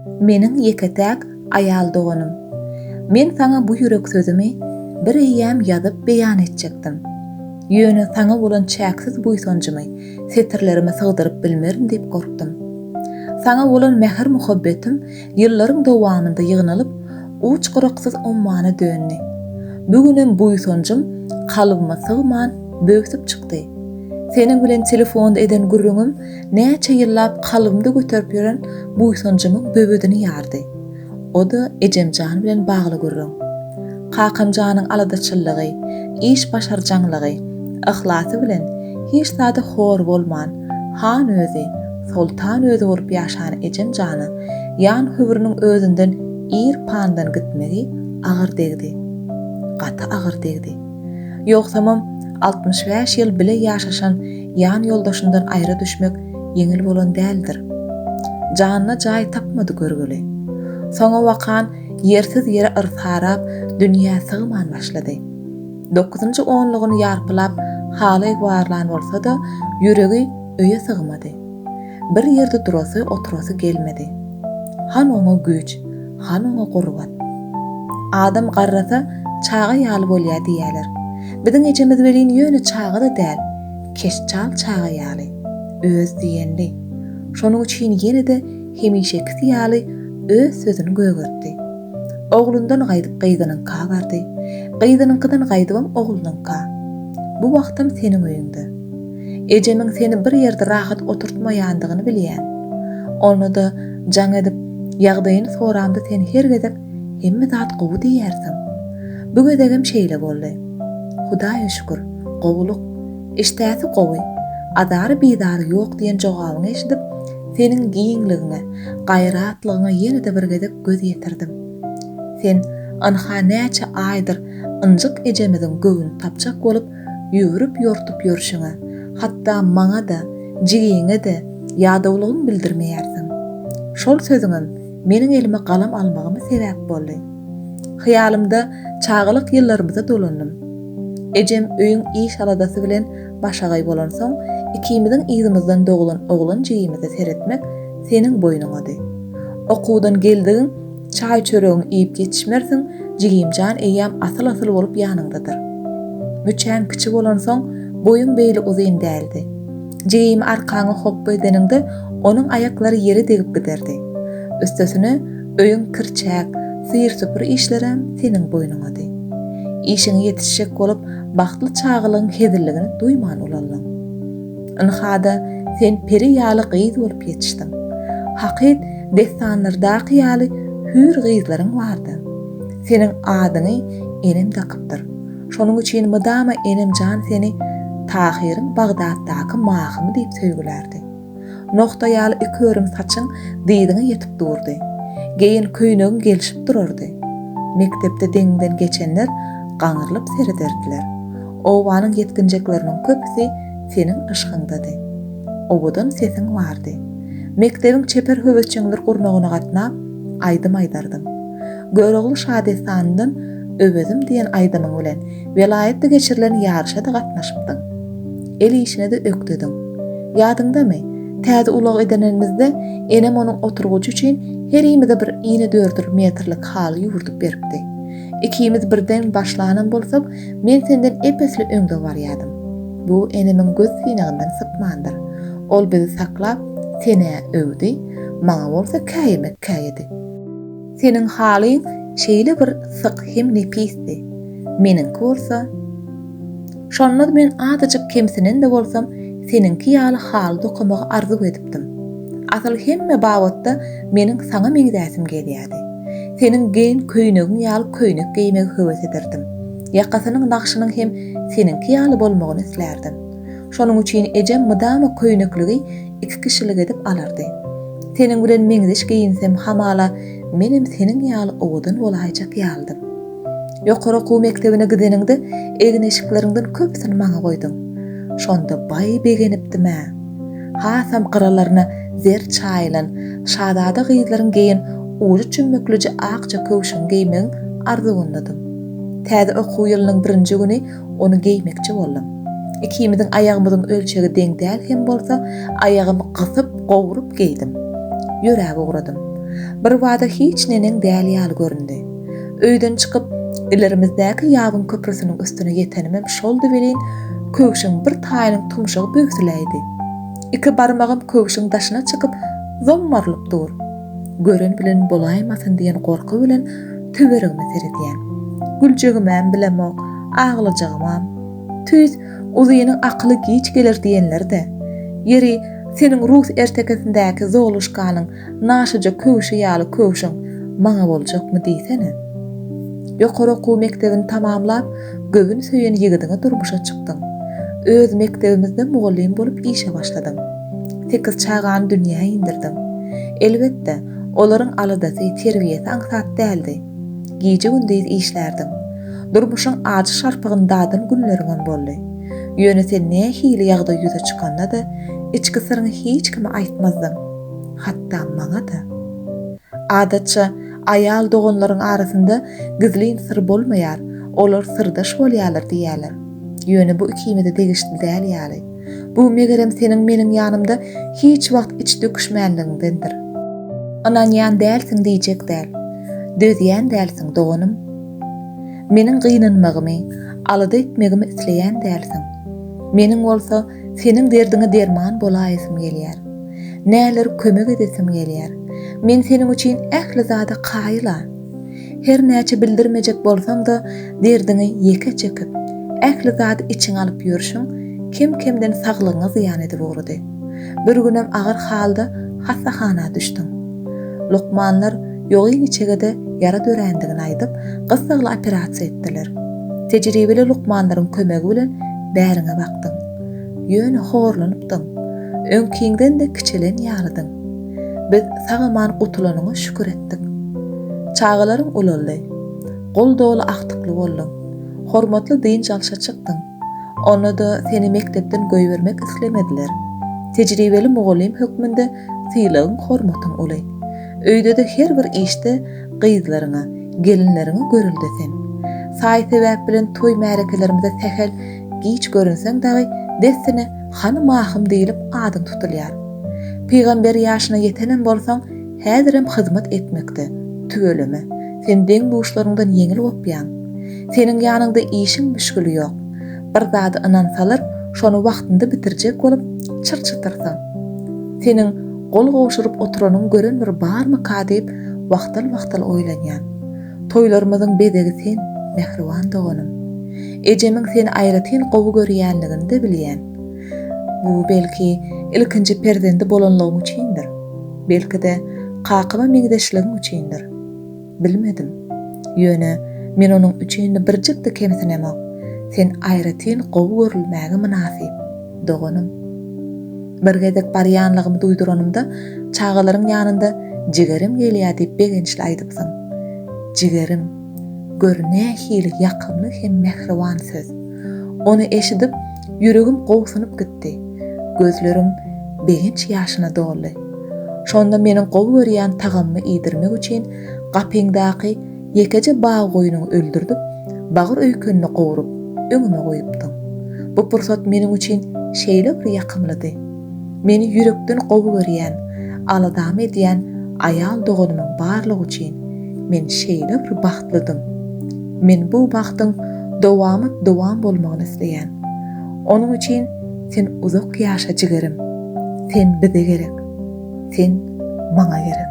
Meniň ýeke-täk aýal doganym. Men saňa bu ýürek sözümi bir eýýäm ýazyp beýan etjekdim. Ýöne saňa bolan çäksiz buýsanjymy setirlerime sygdyryp bilmerin diýip gorkdum. Saňa bolan mähir-muhabbetim ýyllaryň dowamynda ýygnalyp, uç-gyraksyz ummana döndi. Bu günem buýsanjym kalbyma sygman, böwsüp çykdy. Seniň bilen telefonda eden gürrüňim näçe ýyllap kalbymda göterip ýören buýsanjymyň böwedini ýardy. O-da ejemjan bilen bagly gürrüň. Kakamjanyň aladaçyllygy, iş başarjaňlygy, yhlasy bilen hiç zada hor bolman, han özi, soltan özi bolup ýaşan ejemjana ýan höwrüniň özünden ir pandan gitmegi agyr degdi. Gaty agyr degdi. Ýogsamam, altmyş bäş ýyl bile ýaşaşan ýanýoldaşyndan aýra düşmek ýeňil bolan däldir. Janyna jaý tapmady görgüli. Soňabakan ýersiz ýere yrsarap, dünýä sygman başlady. Dokuzynjy onlugyny ýarpylap, haly egbarlan bolsa-da, ýüregi öýe sygmady. Bir ýerde durasy, oturasy gelmedi. Han oňa güýç, han oňa gurbat. Adam garrasa, çaga ýaly bolýar diýýärler. Biziň ejemiz welin ýöne çaga-da däl, keşçal çaga ýaly, öz diýenli. Şonuň üçin ýene-de hemişekisi ýaly öz sözüni gögertdi. Oglundan gaýdyp gyzynyňka bardy. Gyzynyňkydan gaýdybam oglunyňka. Bu wagtam seniň öýüňde. Ejemiň seni bir ýerde rahat oturtmaýandygyny bilýän. Onda-da jaň edip, ýagdaýyny soramda sen her gezek Hemme zat gowy diýýärsiň. Bu gezegem şeýle boldy. Hudaýa şükür, gowulyk. Işdäsi gowy. Azary-bizary ýok diýen jogabyňy eşidip, seniň giňligiňe, gaýratlygyňa ýene-de bir gezek göz ýetirdim. Sen, ynha, näçe aýdyr ynjyk ejemiziň göwün tapjak bolup, Ýüwrüp-ýortup ýörşüňe, hatda maňa-da, jigiňe-de ýadawlygyňy bildirmeýärsiň. Şol sözüňem meniň elime galam almagyma sebäp boldy. Hyýalymda çagalyk ýyllarymyza dolandym. Ejem öýüň iş-aladasy bilen başagaý bolansoň, ikimiziň yzymyzdan doglan oglan jigimize seretmek seniň boýnuňady. Okuwdan geldigiň Çaý-çöregiňi iýip ýetişmersiň, jigimjan eýýäm asyl-asyl bolup ýanyňdadyr. Müçäň kiçi bolansoň, boýuň beýle uzyn däldi. Jigimi arkaňa hopba edeniňde, onuň aýaklary ýere degip giderdi. Üstesine, öýüň kir-çäk, syr-süpür işlerem seniň boýnuňady. Işiňe ýetişjek bolup, bagtly çagalygyň hezilligini duýman ulaldyň. Ynha-da, sen peri ýaly gyz bolup ýetişdiň. Hakyt dessanlardaky ýaly hüýr gyzlaryň bar-da. Seniň adyňy enem dakypdyr. Şonuň üçin mydama enem jan seni Tahyryň Bagdatdaky mahymy diýip söýgülärdi. Nogta ýaly iki örüm saçyň dyzyňa ýetip durdy. Geýen köýnegiň gelşip durardy. Mekdepde deňiňden geçenler gaňrylyp serederdiler. Obanyň ýetginjekleriniň köpüsi Seniň yşgyňdady. Owadan sesiň bardy. Mekdebiň çeper höwesjeňler gurnagyna gatnap, aýdym aýdardyň. Görogly şadessanyndan Öwezim diýen aýdymyň bilen welaýatda geçirilen ýaryşa-da gatnaşypdyň. El işine-de ökdediň. Ýadyňdamy, täze ulag edenenimizde enem onuň oturgujy üçin herimize bir inedördül metrlik haly ýüwürdip beripdi. Ikimiz birden başlanam bolsak, Men senden ep-esli öňde barýardym. Bu enemiň göz synagyndan sypmandyr. Ol bizi saklap, sen-ä öwdi, maňa bolsa käýemek käýedi. Seniň halyň şeýle bir syk hem nepisdi, meniňki bolsa. Şonda-da men azajyk kemsinen-de bolsam, seniňki ýaly haly dokamagy arzuw edipdim. Asyl hemme babatda meniň saňa meňzäsim gelýärdi. Seniň geýen köýnegiň ýaly köýnek geýmegi höwes ederdim. Ýakasynyň nagşynyň hem seniňki ýaly bolmagyny islärdim. Şonuň üçin ejem mydama köýnekligi iki kişilik edip alardy. Seniň bilen meňzeş geýinsem hamala menem seniň ýaly owadan bolaýjak ýalydym. Ýokary okuw mekdebine gideniňde egin-eşikleriňden köpüsini maňa goýduň. Şonda baý begenipdim-ä. Hasam gyralaryna zer çaýylan şazada gyzlaryň geýen ujy çümmükliji akja köwşüni geýmegiň arzuwyndadym. Täze okuw ýylynyň birinji güni ony geýmekçi boldum. Ikimiziň aýagymyzyň ölçegi deň däl hem bolsa, aýagymy gysyp, gowrup geýdim. Ýöräp ugradym. Birbada hiç neneň däl ýaly göründi. Öýden çykyp, ilerimizdäki ýabyň köprüsiniň üstüne ýetenimem şoldy welin, köwşüň bir taýynyň tumşugy böwsüläýdi. Iki barmagym köwşüň daşyna çykyp, zommarylyp dur. Gören bilen bolaýmasyn diýen gorky bilen töweregime seredýän. Güljegimem bilemok, aglajagymam. Tüýs, Uzynyň akyly giç geler diýenler-dä. Ýeri, seniň rus ertekisindäki Zoluşkanyň Naşyja köwşi ýaly köwşüň maňa boljakmy diýsene. Ýokary okuw mekdebini tamamlap, göwün söýen ýigidiňe durmuşa çykdyň. Öz mekdebimizde mugallym bolup işe başladyň. Sekiz çagany dünýä indirdiň. Elbetde, olaryň aladasy, terbiýesi aňsat däldi. Gije-gündiz işlärdiň. Durmuşyň ajy şarpygyny dadan günleriňem boldy. Ýöne sen nähili ýagdaý ýüze çykanda-da, içki syryňy hiç kime aýtmazdyň. Hatda maňa-da. Adatça, aýal doganlaryň arasynda gizlin syr bolmaýar, olar syrdaş bolýarlar diýýärler. Ýöne bu ikimize degişli däl ýaly. Bu, megerem, seniň meniň ýanymda hiç wagt iç döküşmänligiňdendir. Ynanýan dälsiň diýjek däl. Dözýän dälsiň, doganym. Meniň gynanmagymy, alada etmegimi isleýän dälsiň. Meniň bolsa, Seniň derdiňe derman bolaýasym gelýär. Näler kömek edesim gelýär. Men seniň üçin ähli zada kaýyl-a. Her näçe bildirmejek bolsaň-da, derdiňi ýeke çekip, ähli zady içiňe alyp ýörşüň, kem-kemden saglygyňa zyýan edip ugrady. Bir günem agyr halda hassahana düşdüň. Lukmanlar ýogyn içegede ýara dörändigini aýdyp, gyssagly operasiýa etdiler. Tejribeli lukmanlaryň kömegi bilen bäriňe bakdylar. ýaşapdyň. Ýöne horlanypdyň. Öňkiňden-de kiçelen ýalydyň. Biz sag-aman gutulanyňa şükür etdik. Çagalaryň ulaldy. Gol doly agtykly bolduň. Hormatly dynç alşa çykdyň. Onda-da seni mekdepden goýbermek islemediler. Tejribeli mugallym hökmünde sylagyň-hormatyň uly. Öýde-de her bir işde gyzlaryňa, gelinleriňe görelde sen. Saý-sebäp bilen toý-märekelerimize sähel Giç görünseň dagy dessine Hany Mahym diýlip adyň tutulýar. Pygamber ýaşyna ýetenem bolsaň, häzirem hyzmat etmekde, tüweleme, sen deň-duşlaryňdan ýeňil gopýaň. Seniň ýanyňda işiň müşgili ýok. Bir zada ynansalar, şony wagtynda bitirjek bolup, çyr-çytyrsyň. Seniň gol gowşuryp oturanyňy gören bir barmyka diýip, wagtal-wagtal oýlanýan. Toýlarymyzyň bezegi sen, mähriban doganym. Ejemiň seni aýratyn gowy görýänligini-de bilýän. Bu, belki, ilkinji perzendi bolanlygym üçindir. Belki-de, kakama meňzeşligim üçindir. Bilmedim. Ýöne, men onuň üçin birjik-de kemsinemok. Sen aýratyn gowy görülmäge mynasyp. doganym. Bir gezek barýanlygymy duýduranymda, çagalaryň ýanynda Jigerim gelýär diýip begençli aýdypsyň. Jigerim, gör nähili ýakymly hem mähriban söz. Ony eşidip, ýüregim gobsunyp gitdi. Gözlerim begenç ýaşyna doldy. Şonda meniň gowy görýän tagamymy iýdirmek üçin gapyňdaky Ýekeje bag goýnuňy öldürdip, bagyr öýkenini gowrup, öňüme goýupdyň. Bu pursat meniň üçin şeýle bir ýakymlydy. Meni ýürekden gowy görýän, aladamy edýän aýal doganymyň barlygy üçin men şeýle bir bagtlydym. Men bu bagtyň dowamat-dowam bolmagyny isleýän. Onuň üçin sen uzak ýaşa jigirim. Sen bize gerek. Sen maňa gerek.